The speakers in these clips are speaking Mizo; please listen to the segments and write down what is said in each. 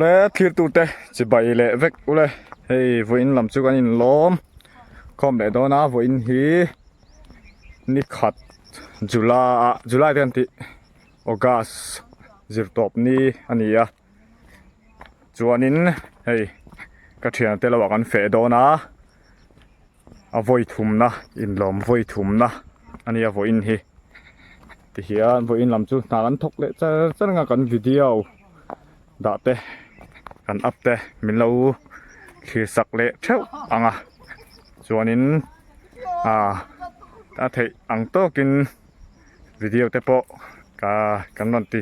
le thlir tu te chi bai le vek u le hei vui in lam chu kan in lawm khawm leh dawn a vui in hi ni khat july ah july te kan tih august zir tawp ni a ni a. chuanin hei ka thian te loah kan feh dawn a a vawi thumna inlawm vawi thumna a nia vawi in hi tihian vawi in lam chu hna kan thawk leh char char anga kan video dah te kan up te min lo thlir sak leh theuh ang a chuanin ah a theih ang tawkin video te pawh ka kan rawn ti.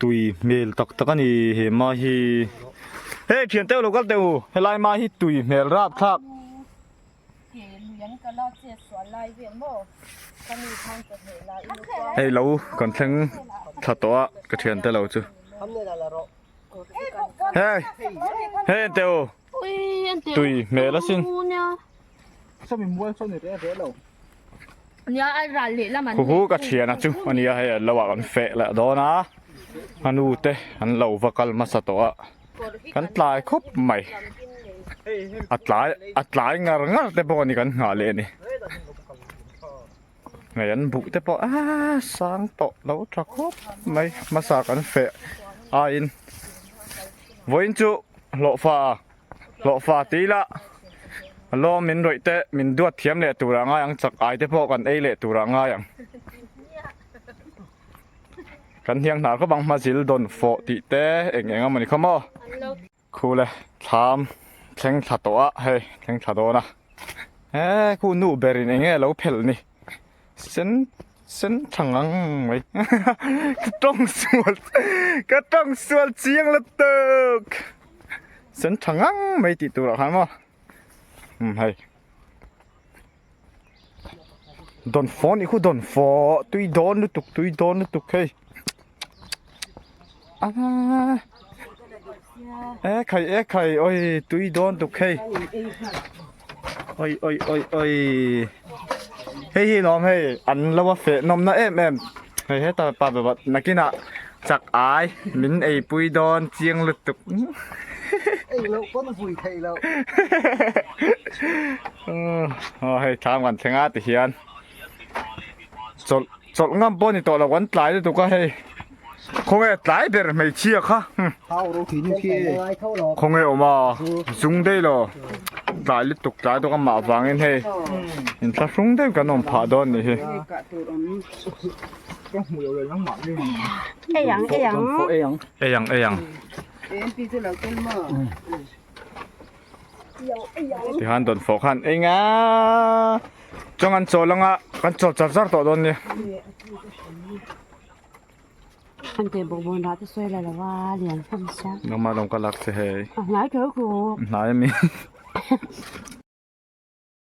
tui hmel tak tak a ni he mah hi he thian teuh lo kal teh u helai mah hi tui hmel rap thlak hei lo kan thleng thla tawh a ka thian te lo chu he he enteu tui hmel asin. Sami mual saw ni reh reh lo. Nia a ral leh lam an nei. Huhu ka thian a chu ania hei an lo a kan feh leh dawn a. Anu te an lo va kal hmasa tawh a. Kan tlai khawp mai. A tlai a tlai ngar ngar te pawh a ni kan nghah leh ni. Hei an buh te pawh a sang tawh lo tha khawp mai hmasa kan feh aiin vawiin chu hlawhfa a. Hlawhfa te ila lawm min rawih te min duat thiam leh tur ah ngai ang chak ai te pawh kan ei leh tur ah ngai ang kan hniang hnar khawp ang hmazil dawn fawh tih te eng eng amawni khaw maw khu le thlam thleng thla tawh ah hei thleng thla dawn a he khu nu ber in eng nge a lo phelh ni. sen sen thlang ang mai ka tawng sual ka tawng sual chiang la tawk sen thlang ang mai tih tur ah khan maw um hei dawn faw nih khu dawn faw tui dawn lutuk tui dawn lutuk hei. Ekhai ekhai oi tui dawn tuk hei Oi oi oi oi Hei hi lawm hei an lo a feh nawm na em em Hei heta pa bawbah nakina chak ai min ei pui dawn chiang lut tuk Ei loh pawn vui theih loh Aw hei tham kan thleng a tihian chawlh. Chawlh ngam pawh a ni tawh lo kan tlai lutuk a hei khawnge tlai ber hmeichhia kha khawnge awm a zung daih lo tlai lutuk tlai dawk amah vangin hei in thla hrung deuh kan awm phah dawn ni hi eiang eiang eiang eiang Tihan don fo khan enga chong an chaw langa kan chaw char char tawh don ni an te bo bon ra te soi la lawa lian kham sa no ma dong ka lak che he a hnai tho ko hnai mi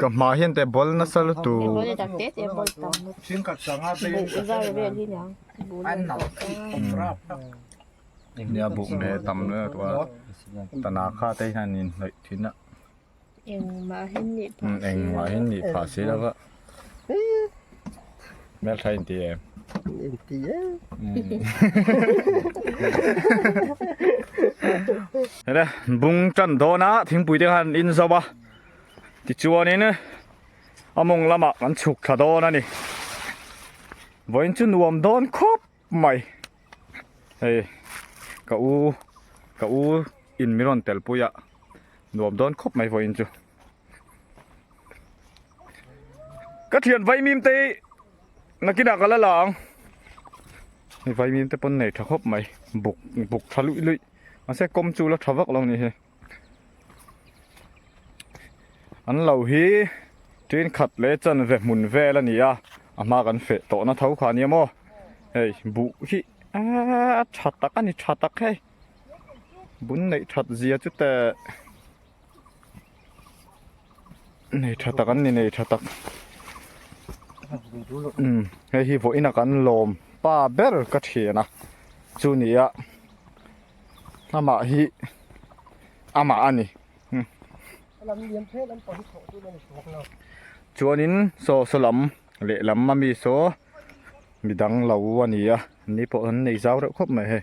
Ka hma hian te ball nasa lutu. Nia buk me tam na tua. Tana kha te hian in hnawih thin a. Engmah hian nih pha si lova. Hmelthla in ti em? In ti em. Nè, bung tan dawn a, thingpui te khan in zau a. Ti chuan in, a mawng lama kan chhuk thla dawn a ni. Vawiin chu nuam dawn khawp mai. Hei, ka u, ka u in mi rawn tel pui a, nuam dawn khawp mai vawiin chu. Ka thian vai mim te nakina ka la la ang ni vai mim te pon nei tha khop mai buk buk tha lui lui ase kom chu la tha vak lo ni he an lo hi trin khat le chan ve hmun vel a ni a a hma kan fe to na tho kha ni maw hei bu hi a tha tak a ni tha tak hei bun nei that zia chu ta nei tha tak an ni nei tha tak umm hei hi vawiin a kan lawm pa ber ka thian a chu nih a amah hi amah a ni chuanin saw saw lam leh lam ami saw midang lo a ni a ni pawh an nei zau reuh khawp mai hei.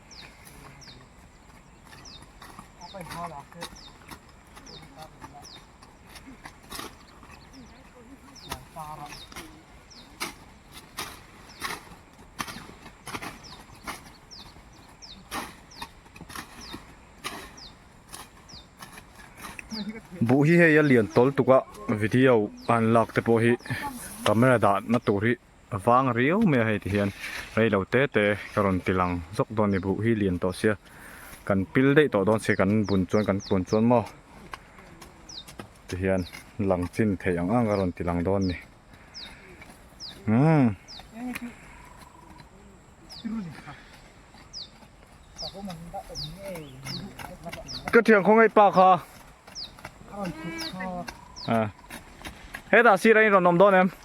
buh hi hei a lian tawltuk a video an lakte pawh hi camera dan na tur hi-- A vang riau mai a hei ti hian rei lo te te ka rawn ti lang zawk dawn ni buh hi lian tawh sia kan pil daih tawh dawn si kan bun chuan kan kun chuan maw ti hian lang chin theih ang ang ka rawn ti lang dawn ni umm ka thiang khawngaih pa kha a hetah sira in rawn awm dawn em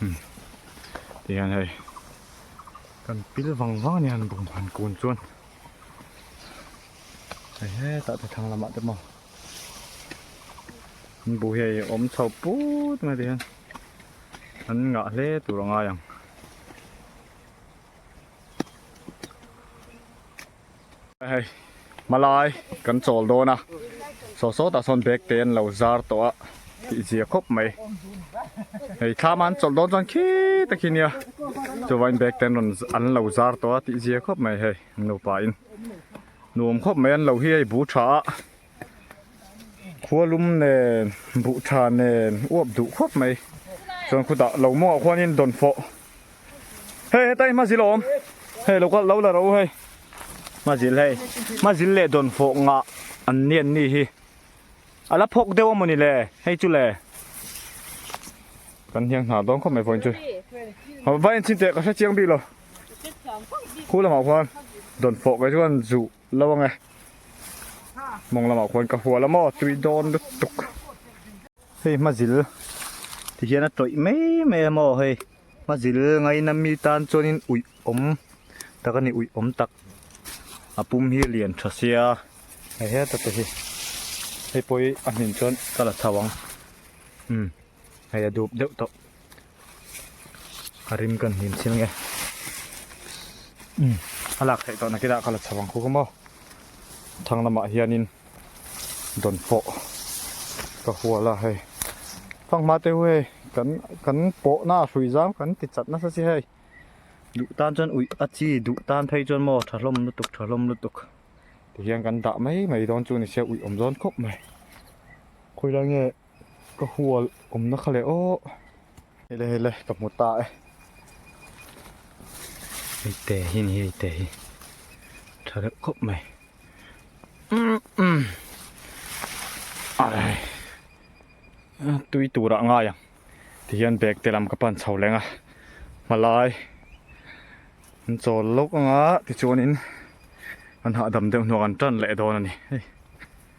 hmm tih hian hei kan pil vang vang ania an bawm han kun chuan hei hetah te thlang lamah te pawh an buh hi hei a awm chho put mai tih hian an ngah hle tur a ngai ang. Hei hmalai kan chawl dawn a, saw saw tah sawn bag te an lo zar tawh a tih zia khawp mai, hei thlama an chawlh dawn chuan khi takin nia chuvangin bag te an rawn an lo zar tawh a tih zia khawp mai, hei nupa in nuam khawp mai an lo hi a, bu tha a. Khualum nen, buhtha nen uap duh khawp mai. Chuan khu dah lo mawngah khuanin dawn fawh. Hei heta hi hmazil awm. Hei lo kalh lo la ro hei. Hmazil hei. Hmazil leh dawn fawh ngah an ni an nih hi. A la phawk deuh a maw ni le? Hei chu le. Kan hniang hna dawn khawp mai vawiin chu. Vai an chhin teh ka hre chiang bik lo. Khu lamah khuan dawn fawh kei chuan zuh. Lo ang e. Mawng lamah khuan ka hual a maw tui dawn lutuk. Hei hma zil ti hian a tawih mai mai a maw hei. Hma zil ngai na mi tan chuanin ui awm tak a ni ui awm tak. A pum hi lian tha sia. Hei hian ta te hi. Hei pawh hi a hmin chuan ka la chho ang. Umm. hei a dup deuh tawh a rim kan hlim chil nge a lak theih tawh na kila ka la chho ang khuh khuh maw thang lamah hianin dawn pawh ka hual a hei fanghma te hei kan kan pawhna a hrui zau kan ti chat nasa si hei duh tan chuan uih a chi duh tan phei chuan maw tha hlawm lutuk tha hlawm lutuk tihian kan dah mai mai dawn chu ni sia uih awm zawn khawp mai khawilai nge Ka hual awmna kha leh awh. Hei le hei le ka hmu ta e. Hei te hi ni hei te hi. Tha deuh khawp mai. Arai. Tui tura ngai ang. Ti hian bag te lam ka pan chho leng a. Hmalai. An chawl lawk anga tichuan in an hahdam deuh hnu ang an tan leh dawn a ni.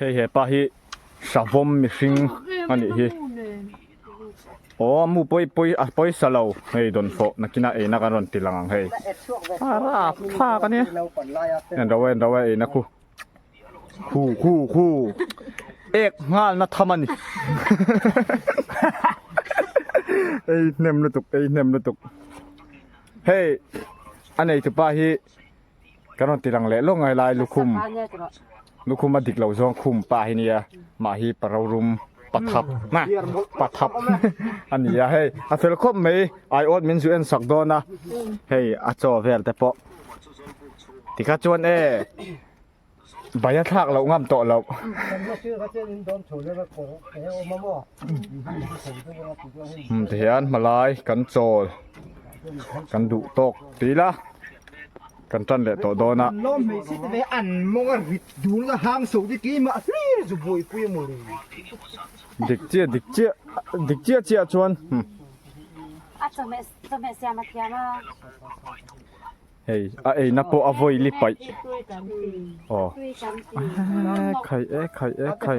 Hei hepa hi savawm mihring a nih hi aw mu pawi pawi a pawisa lo hei dawn fawh nakina eina kan rawn ti lang ang hei a rap thlak a nia enraw enraw a eina khu. Hu hu hu. Ek nghal na tham ani. Ei nem lutuk ei nem lutuk. Hey. Anei tu pa hi kan ron tilang le lo ngai lai lukhum. Lukhum a dik lo zong khum pa hi nia. Ma hi parorum pathap na pathap ani a hey. A fel khop mai ai ot min zu en sak dona. Hey a chaw vel te pawh. Tika chuan e. Bai a thlak loh ngam tawh loh. Hum ti hian hmalai kan chawl kan duh tawk ti ila kan tan leh tawh dawn a. Lawm hmeichhe te ve an mawng a rit dul a hang so te keimah hlir zu buai pui emaw le. Dik chiah dik chiah dik chiah chiah chuan. A chawhmeh chawhmeh siam a thiam a. Hei a eina pawh a vawi li paih. Aw. Khai e khai e khai.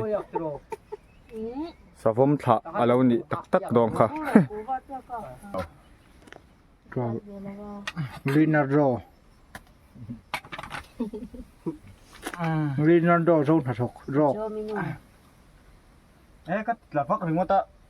Savom thlah a lo nih tak tak dawn kha. Rina ro. Rina ro zo hna thawk. Ro. He ka tla vak ringawt a.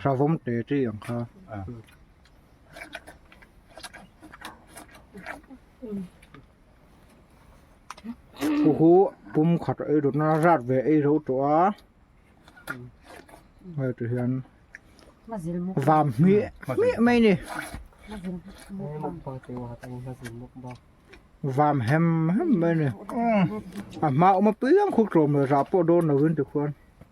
Hravawm te chi ang kha hu hu pum khat ei ru na zat ve ei ro tawh a hei ti hian vam hmi hmi mai ni vam hem hem mai ni a hma awm a piang khuk tlawm lo zah pawh dawn lo in ti khuan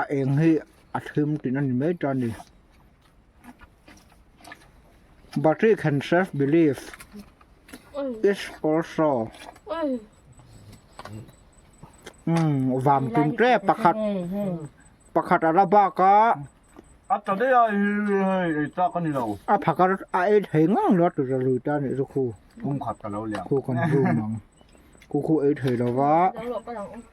a eng hi a hlim tih na ni mai ta ni but he can self believe is also um vang tin te pakhat pakhat a la bak a a ta dei a hi hei ei ta ka ni lo a phakar a ei thei ngang lo tu lui ta ni zu khu kum khat ka lo liam khu kan zu mang khu khu ei thei lo va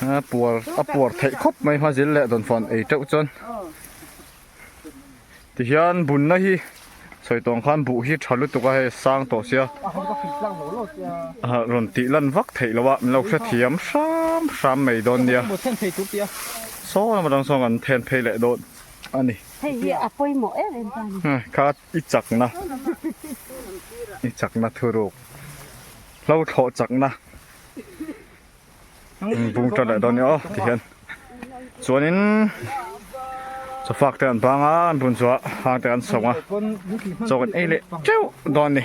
a puar a puar theih khawp mai hma zir leh dawn fawn ei teuh chuan tihian bunna hi sawi tawng khan buh hi tha lutuk a hei sang tawh sia rawn tih lan vak theih loh a min lo hrethiam hram hram mai dawn nia saw lama dang sawn kan then phei leh dawn a ni kha i chak na i chak na thu ruk hlo thlawh chak na. in bung ta leh dawn nia aw ti hian chuanin sofak te an bang a an bun chu a hang te an sawng a chawk in ei leh teuh dawn ni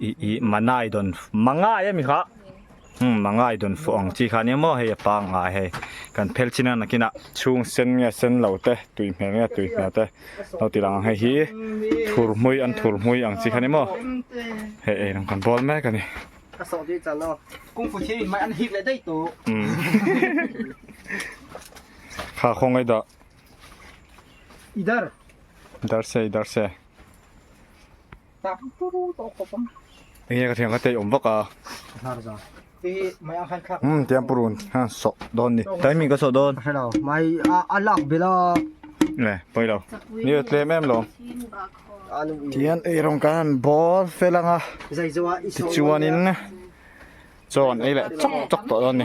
i i mangai dawn mangai a mi kha hm mangai dawn fuh ang chi kha nia maw hei a pangngai hei kan phel chin a nakin a chhung sen nge sen lo te tui hmel nge tui hmel te lo ti lang ang hei hi thur hmui an thur hmui ang chi kha nia maw hei ei ang kan bawl mek a ni a sawh tih chan aw kung fu thil in hmai an hik leh daih tawh kha khawng ei dah idar idar se idar se Enge ka thian ka tei awm vak a. Hmm tiang purun han sawh dawn ni. Timing ka sawh dawn. Hello mai a a lak bela. Nè pawi lo. Ni a tlem em lo. Tian ei rawng ka han bawr fel ang a. Tichuanin chaw an ei leh chawk chawk tawh dawn ni.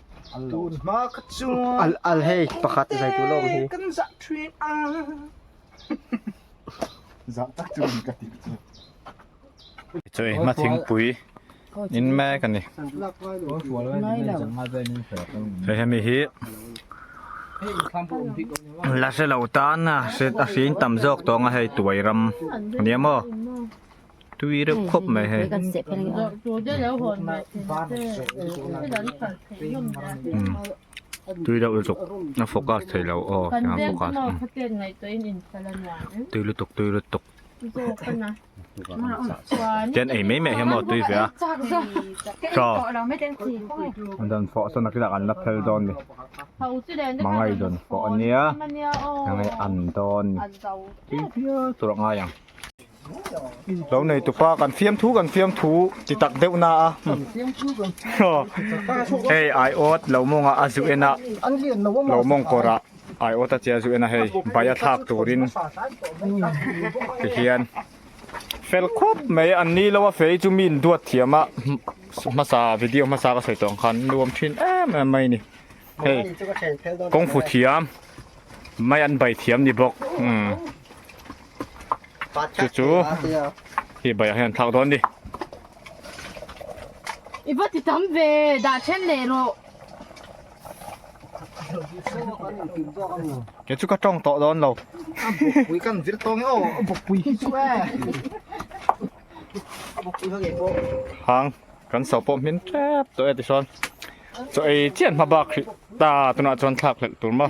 tun hma kha chuan al al hei pakhat zai tu lawm hi kan zah thin a zah tak chu min ka ti choi ma thing pui in ma ka ni he he mi hi la se lo tan a se a fing tam zawk tawng a hei tuai ram ania maw tui reuh khawp mai hei tui reuh lutuk a focus thei lo aw tiang a focus a tui lutuk tui lutuk tian ei mai mai hian tui fe a tha an rawn fawh sawn a kil ah kan la phel dawn ni hmangaih dawn fawh ania enge an dawn ni tui fiah tur a ngai ang. lo nei tu pa kan fiam thu kan fiam thu ti tak deuh na a hei ai awt lo mawng a a zu en a lo mawng kawr ah ai awt a che a zu en a hei bai a thlak tur in ti hian fel khawp mai an ni lo a fei chu min duat thiam a hmasa video hmasa ka sawi tawh ang khan nuam thin em em mai a ni. Hei kawng fu thiam mai an bai thiam ni bawk umm chu chu hei baiah hian an thlak dawn ni. I va ti tam ve dah then leh rawh. Kei chu ka tawng tawh dawn lo. A bawkpui kan zir tawng e aw a bawkpui hi chu e a bawkpui ho ngei pawh. Hang kan so pawh hmin tep tawh e tichuan. Chu ei chian hma bak hrih ta tunah chuan thlak hlelh tur maw?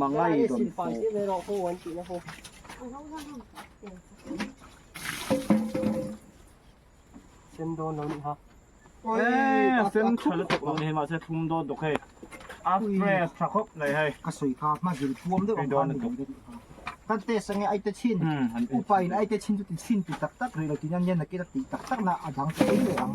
Mangai don fo. Sen don lo ni ha. Ê, sen thum lo tuk lo ni ma se thum don tuk hei. A fresh tha khop nei hei. Ka soi kha ma zil puam deuh ang khan ni lo ni ha. Kan te sange ai te chin. Upai na ai te chin chu ti chin ti tak tak ri lo ti na nian na kila ti tak tak na adang te ang.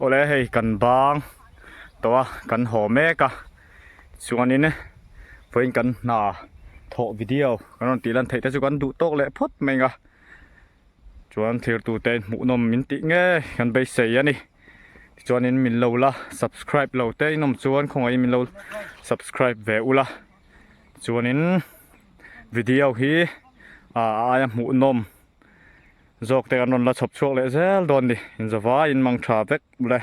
Awle hei kan bang tawh a kan haw mek a chuanin vawiin kan hna thawh video kan rawn tih lan theih te chu kan duh tawk leh phawt mai anga chuan thlir tu te in hmuhnawm min tih ngei kan beisei a ni tichuanin min lo la subscribe lo te in awm chuan khawngaih in min lo subscribe ve ula chuanin video hi a aia hmuhnawm-- Zawkte an rawn la chhawp chhuak leh zel dawn ni. Inzawvai in mangtha vek ble.